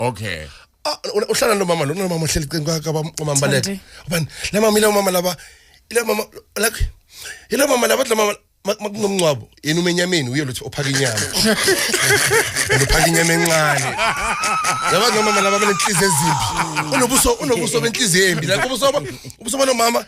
okay Ah, u- uhlala nomama lo nomama ohleli qini kwakhe abamama baleke Thandi. ubani la mama ile mama laba ile mama like ile mama laba la mama mak- makunomncwabo yena umenyameni uye lothi ophaka inyama and uphaka inyama encane yaba nomama laba benenhliziyo ezimbi unobuso unobuso benhliziyo embi like ubuso ba- ubuso banomama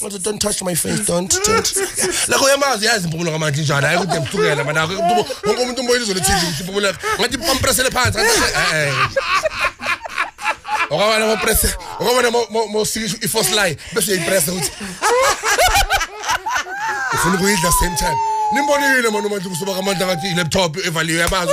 Manje don't touch my face don't don't. Lakho yamazi yazi impumulo kamanje njani hayi kude mhlukela manako umuntu wonke umuntu umoya izolo TV impumulo yakhe. Ngathi pampresele phansi ngathi eh. eh. Okabana mo press okabana mo mo- mo sikisho i force line bese uyayipressa ukuthi ufuna ukuyidla same time. Nimbonile manje uMandla kusuba kamandla ngathi i laptop evaliwe yamazi.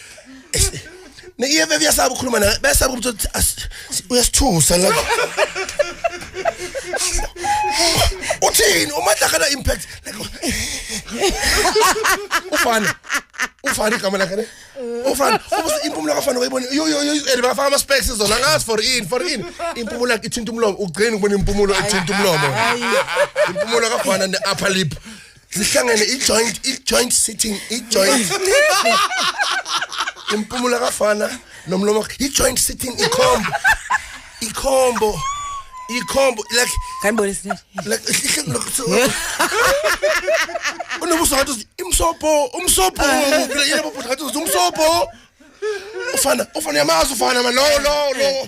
Ne EFF yasaba ukukhuluma naye besaba ukuthi uthi, "As- si- uyasithusa la. Uthini uma dlakala impact like ufani ufani igama lakhe ne ufani ubuze impumulo kafani wayibona yo yo yo and bafaka ama specs zona ngazi for in for in impumulo yakhe ithinta umlomo ugcina ukubona impumulo ethinta umlomo impumulo kafana ne upper lip zihlangene i-joint i-joint sitting i-joint impumula kafana nomlomo i-joint sitting ikhombo ikhombo ikhombo like kanibone sinje like ihle lokho unobuso ngathi imsopo umsopo ngibile yebo bhuti ngathi umsopo ufana ufana yamazi ufana ma lo lo lo